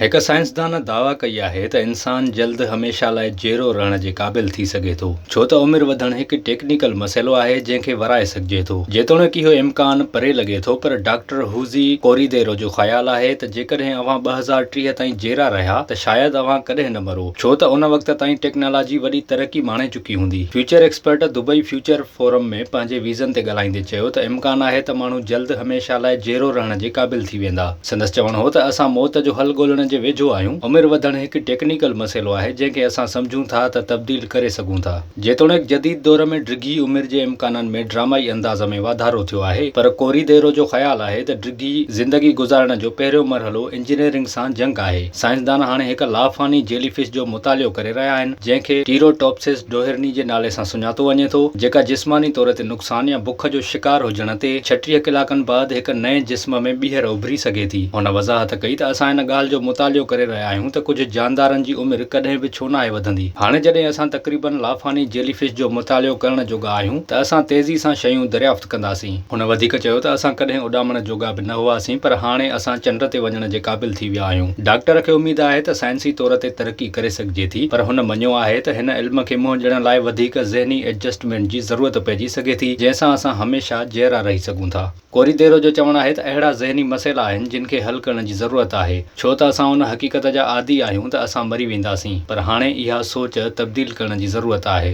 هڪ سائنسدان دعويٰ ڪئي آهي ته انسان جلد هميشه لاء جيئرو رهڻ جي قابل ٿي سگهي ٿو، ڇو ته عمر وڌڻ هڪ ٽيڪنيڪل مسئلو آهي جنهن کي ورائي سگهجي ٿو. جيتوڻيڪ اهو امڪان پري لڳي ٿو پر ڊاڪٽر هوزي ڪوريديرو جو خيال آهي ته جيڪڏهن اوهان ٻه هزار ٽيهه تائين جيئرا رهيا ته شايد اوهان ڪڏهن نه مرو، ڇو ته ان وقت تائين ٽيڪنالاجي وڏي ترقي ماڻي چڪي هوندي. Future expert Dubai future forum ۾ پنهنجي ويزن تي ڳالهائيندي چيو ته امڪان آهي ته ماڻهو جلد هميشه لاء جيئرو رهڻ جي قابل ٿي ويندا. سندس چوڻ هو ته اسان موت جو حل ڳولڻ جي ويجهو آهيون، عمر وڌڻ هڪ ٽيڪنيڪل مسئلو آهي جنهن کي اسان سمجهون ٿا ته تبديل ڪري سگهون ٿا. جيتوڻيڪ جديد دور ۾ ڊگهي عمر جي امڪانن ۾ ڊرامائي انداز ۾ واڌارو ٿيو آهي پر ڪوريديرو جو خيال آهي ته ڊگهي زندگي گذارڻ جو پهريون مرحلو انجنيئرنگ سان جنگ آهي. سائنسدان هاڻي هڪ لافاني جيلي فش جو مطالعو ڪري رهيا آهن جنهن کي ٽيروٽوپسس ڊوهرني جي نالي سان سڃاتو وڃي ٿو جيڪا جسماني طور تي ثانيه بک جو شڪار هجڻ تي ڇٽيهه ڪلاڪن بعد هڪ نئين جسم ۾ ٻيهر اڀري سگهي ٿي. هن وضاحت ڪئي ته اسان ان ڳالهه جو مطالعو ڪري رهيا آهيون ته ڪجهه جاندارن جي عمر ڪڏهن به ڇو ناهي وڌندي. هاڻي جڏهن اسان تقريبن لافاني جيلي فش جو مطالعو ڪرڻ جوڳا آهيون ته اسان تيزي سان شيون دريافت ڪنداسين. هن وڌيڪ چيو ته اسان ڪڏهن اڏامڻ جوڳا به نه هئاسين پر هاڻي اسان چنڊ تي وڃڻ جي قابل ٿي ويا آهيون. ڊاڪٽر کي اميد آهي ته سائنسي طور تي ترقي ڪري سگهي. سگهجي ٿي پر هن مڃيو آهي ته هن علم کي منهن ڏيڻ لاء وڌيڪ ذهني ايڊجسٽمينٽ جي ضرورت پئجي سگهي ٿي جنهن سان اسان هميشه جيئرا رهي سگهون ٿا. ڪوريديرو جو چوڻ آهي ته اهڙا ذهني مسئلا آهن جن کي حل ڪرڻ جي ضرورت آهي ڇو ته اسان ان حقيقت جا عادي آهيون ته اسان مري وينداسين پر هاڻي اها سوچ تبديل ڪرڻ جي ضرورت آهي.